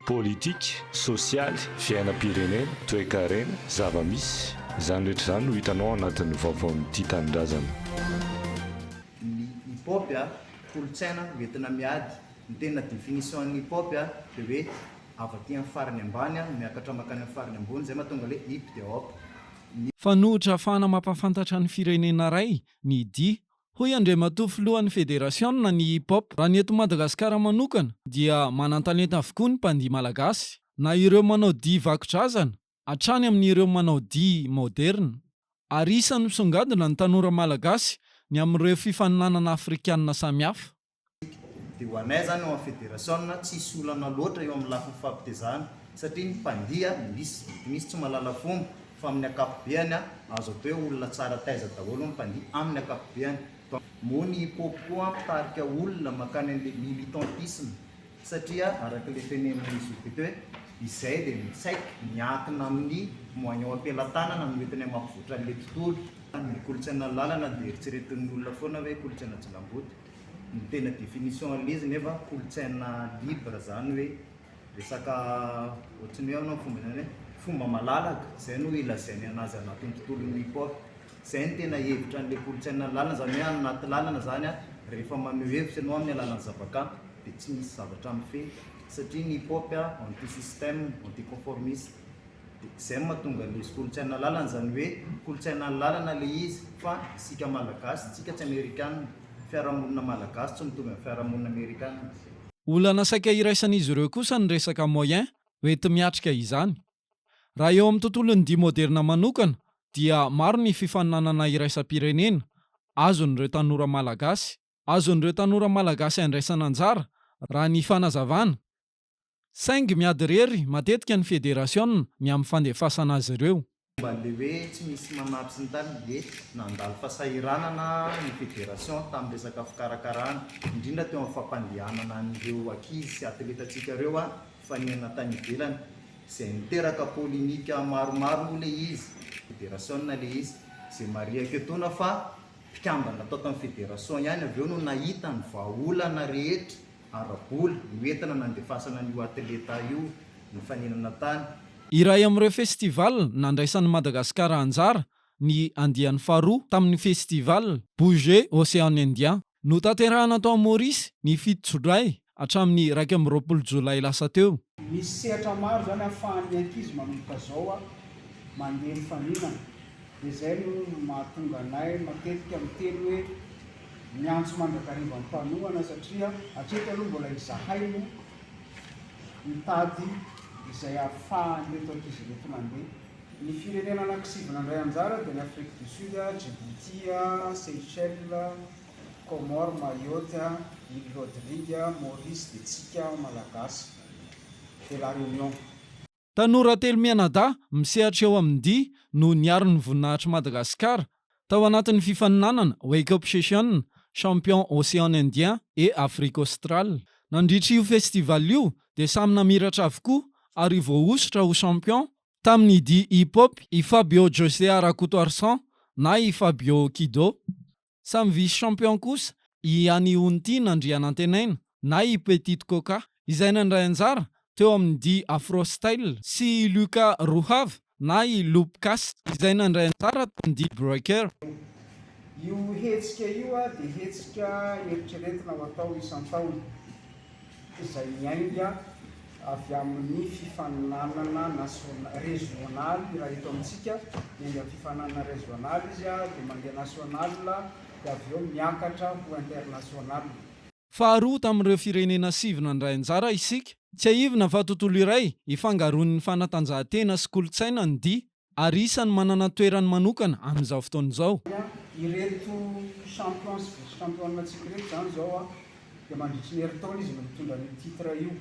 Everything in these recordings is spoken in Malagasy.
Politika, sosialy, fiainam-pirenena, toekarena, zava-misy, izany rehetra izany no hitanao ao anatin'ny vaovaon'ny Tia Tanindrazana. ny hip hop dia kolontsaina hoentina miady, ny tena définition an'ny hip hop dia hoe avy aty amin'ny farany ambany miakatra mankany amin'ny farany ambony, izay mahatonga ilay hip dia hop, ny. Fanohitra ahafahana mampahafantatra ny firenena iray ny dihy Hoy Andriamatoa Filohan'ny Federasiona ny Hip Hop, Raha ny eto Madagasikara manokana dia manan-talenta avokoa ny mpandihy malagasy, na ireo manao dihy vakodrazana hatrany amin'ireo manao dihy maoderina. Ary isan'ny misongadina ny tanora malagasy ny amin'ireo fifaninanana afrikanina samihafa. Dia ho anay izany ao amin'ny federasiona tsisy olana loatra eo amin'ny lafiny fampitezana satria ny mpandia misy, mety misy tsy mahalala fomba fa amin'ny ankapobeany azo atao hoe olona tsara taiza daholo ny mpandia amin'ny ankapobeany. Moa ny hip hop koa mpitarika olona mankany an'ilay militantisme satria araka ilay tenenin'izy roa be teo hoe izay dia ny tsaiky miankina amin'ny moignon am-pelatanana no entinay mampivoatra an'ilay tontolo. Ny kolontsaina lalana dia eritreretin'ny olona foana hoe kolontsaina jilamboto. Ny tena définition an'ilay izy nefa kolontsaina libre zany hoe resaka ohatry ny hoe ahoana ny fomba hilazaina hoe fomba malalaka, izay no ilazainy anazy anatin'ny tontolon'ny hip hop. Izay no tena hevitra an'ilay kolontsaina lalina zany hoe any anaty lalana zany an, rehefa maneho hevitra ianao amin'ny alalan'ny zavakanto dia tsy misy zavatra mifehy satria ny hip hop an anti système, anti conformiste. Dia izay no mahatonga ny izy kolontsaina lalana, izany hoe kolontsaina lalana ilay izy fa isika Malagasy tsika tsy Amerikana, fiarahamonina Malagasy tsy mitovy amin'ny fiarahamonina Amerikana. Olana saika iraisan'izy ireo kosa ny resaka moyen hoenti-miatrika izany. Raha eo amin'ny tontolon'ny dihy moderna manokana dia maro ny fifaninanana iraisam-pirenena azon'ireo tanora Malagasy, azon'ireo tanora Malagasy andraisana anjara, raha ny fanazavana, Saingy miady irery matetika ny federasiona ny amin'ny fandefasana azy ireo. Momba an'ilay hoe tsy misy manary sy ny tariny dia nandalo fasahiranana ny federasiona tamin'ny resaka fikarakarana, indrindra teo amin'ny fampandehanana an'ireo ankizy sy atletantsika ireo hifaninana tany ivelany, izay niteraka polemika maromaro moa ilay izy, federasiona ilay izy, izay marihako etoana fa mpikambana tao tamin'ny federasiona ihany avy eo no nahita ny vahaolana rehetra. ara-bola, io entana nandefasana an'io atleta io, ny fanenana tany. Iray amin'ireo festival nandraisan'i Madagasikara anjara ny andiany faharoa tamin'ny festival Bouger Ocean Indien. Notanterahina tao Maurice ny fito Jolay hatramin'ny iraika amby roapolo Jolay lasa teo. Misy sehatra maro izany ahafahan'ny ankizy manomboka izao mandeha mifaninana. Dia izay no mahatonga anay matetika miteny hoe miantso mandrakariva mpanohana satria hatreto aloha mbola izahay no mitady izay ahafahan'ireto ankizy ireto mandeha. Ny firenena anankisivy nandray anjara dia ny Afrique du Sud, Djibouti, Seychelles, Comores, Mayotte, Îles Rodrigue, Maurice dia tsika Malagasy de la Réunion. Tanora telo mianadahy misehatra eo amin'ny dihy no niaro ny voninahitr'i Madagasikara tao anatin'ny fifaninanana Wake Up Session Champion Océan Indien et Afrique Australe. Nandritra io festival io dia samy namiratra avokoa ary voahosotra ho champion tamin'ny dihy hip-hop i Fabio José Arakotoarison na i Fabio Kido. Samy vice champion kosa i Anihontina Andrianantenaina na i Petite Coca izay nandray anjara teo amin'ny dihy Afro Style sy i Luca Rohava na i Loopcast izay nandray anjara tao amin'ny dihy Breaker. Io hetsika io dia hetsika eritreretina ho atao isan-taona. izay miainga avy amin'ny fifaninanana nasionaly, régional, raha eto amintsika miainga amin'ny fifaninanana régional izy dia mandeha national dia avy eo miakatra ho international. Faharoa tamin'ireo firenena sivy nandray anjara isika. Tsiahivina fa tontolo iray ifangaroan'ny fanatanjahantena sy kolontsaina ny dihy ary isany manana ny toerany manokana amin'izao fotoana izao. Ireto champion sy vice championantsika ireto izany izao dia mandritry ny herintaona izy no mitondra an'io titre io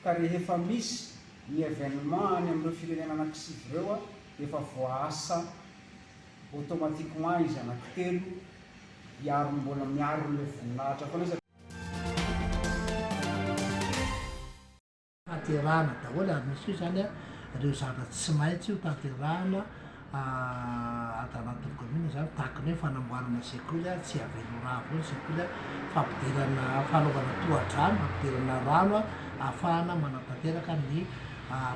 ka rehefa misy ny evenement any amin'ireo firenena anankisivy ireo dia efa voaasa automatiquement izy anankitelo hiaro ny mbola miaro an'ilay voninahitra foana izy. tanterahana daholo ary misy koa izany a reo zavatra tsy maintsy ho tanterahana ato anatin'ny commune zany tahaka ny hoe fanamboarana sekoly a tsy avela ho rà avao ny sekoly a fampidirana fanaovana tohadrano hampidirana rano a ahafahana manatanteraka ny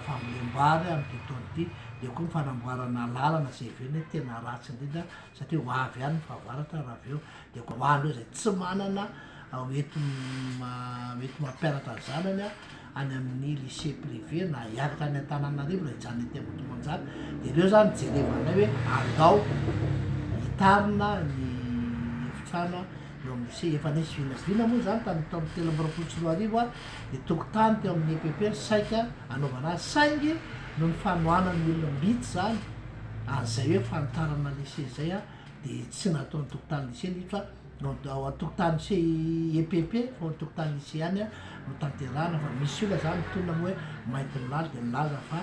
fambolem-bary amin'ity taona ity dia koa ny fanamboarana lalana izay avy eo ny tena ratsy indrindra satria ho avy ihany ny fahavaratra raha avy eo dia koa ho an'ireo izay tsy manana hoenti-hoenti mampianatra ny zanany any amin'ny lycée privé na hianatra any Antananarivo raha hijanona ety Ambohimanjaka dia ireo zany jerevana anay hoe andao hitarina ny efitrano eo amin'ny lycée efa nisy vinavina moa zany tamin'ny taona telo amby roapolo sy roa arivo ny tokotany teo amin'ny EPP no saika anaovana azy saingy no ny fanohanan'ny olona mbitsy zany an'izay hoe fanitarana lycée zay dia tsy nataon'ny tokotany lycée ny fa Donc ao an-tokotany CIEPP, Forum Tokotany Lycéen, no tanterahana fa misy olona zany mitolona moa hoe mainty ny lala dia milaza fa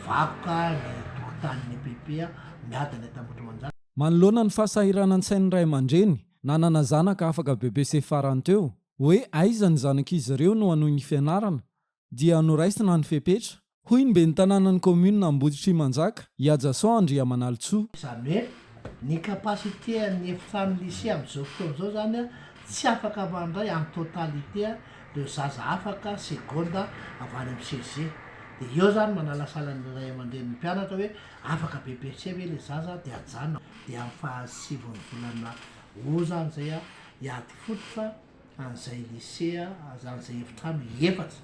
vakoka ny tokotanin'ny EPP, miady ilay tambotrimanjaka izany. Manoloana ny fahasahiranan-tsain'ny ray aman-dreny nanana zanaka afaka bebe sy efa farany teo, hoe aiza ny zanak'izy ireo no hanohy ny fianarana, dia noraisina ny fepetra, hoy ny ben'ny tanànan'ny kaominina Amboditrimanjaka, i Ajason Andriamanalintsoa. Izany hoe ny capacité an'ny efitrano lycée amin'izao fotoana izao izany tsy afaka mandray en totalité ireo zaza afaka seconde avy any amin'ny CEG. Dia eo izany manalasala ny ray aman-drenin'ny mpianatra hoe afaka BEPC ve ilay zaza dia ajanona dia amin'ny fahasivon'ny volana aout izany izay hiady fototra. an'izay lisea aza an'izay efitrano efatra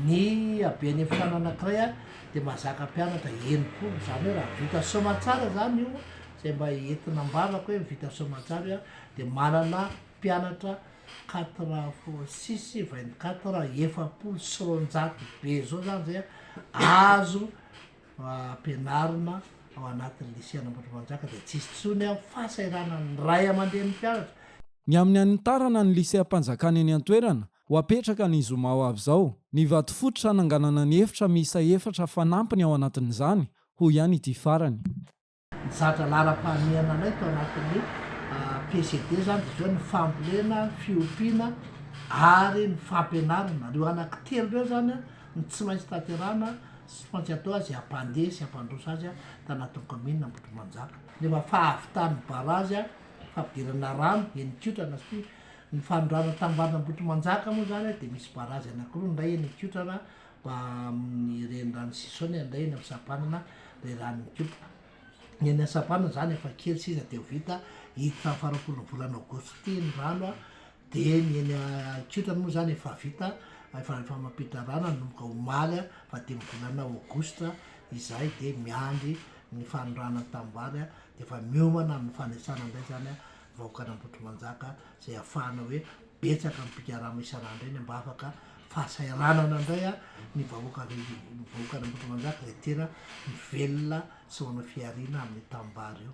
ny haben'ny efitrano anankiray a dia mahazaka mpianatra enimpolo izany hoe raha vita soamantsara zany io zay mba entina ambarako hoe vita soamantsara io a dia manana mpianatra quatre fois six vingt quatre efapolo sy roanjato be zao zany zay a azo ampianarina ao anatin'ny Lycée an'Ambohitrimanjaka dia tsy hisy intsony ny fahasahiranan'ny ray aman-drenin'ny mpianatra. Ny amin'ny hanitarana ny Lycée am-panjakana eny an-toerana ho apetraka ny zoma ho avy izao ny vato fototra hananganana ny efitra miisa efatra fanampiny ao anatin'izany, hoy ihany ity farany. Nizatra laharam-pahamehana anay tao anatin'ny PCD izany, dia izao ny fambolena, fiompiana ary ny fampianarana. Ireo anaky telo ireo izany no tsy maintsy tanterahana sy tsy maintsy atao azy hampandeha sy hampandroso azy tao anatin'ny kaominina Ambohitrimanjaka. Rehefa fahavitan'ny barazy fampidirana rano eny Ikotrana satria ny fanondrana tanin'ny vavan'Ambohitrimanjaka moa izany dia misy barazy anakiroa, ny iray eny Ikotrana Mba amin'ny renirano sisa ao ny an'indray eny amin'ny sampanana ilay rano mikopa. Ny any sampanana izany efa kely sisa dia ho vita, hiditra amin'ny faharoapolon'ny volana aogositra ity ny rano dia ny eny an-kiotrany moa izany efa vita, efa efa mampiditra rano hanomboka omaly faha dimy volana aogositra izay dia miandry ny fanondranan'ny tanimbary dia efa miomana amin'ny fanisana indray izany vahoakan'Ambohitrimanjaka izay hahafahana hoe betsaka ny mpikarama isan'andro eny mba afaka fahasahiranana indray a ny vahoaka avy ny vahoakan'Ambohitrimanjaka izay tena mivelona sy manao fihariana amin'ny tanimbary io.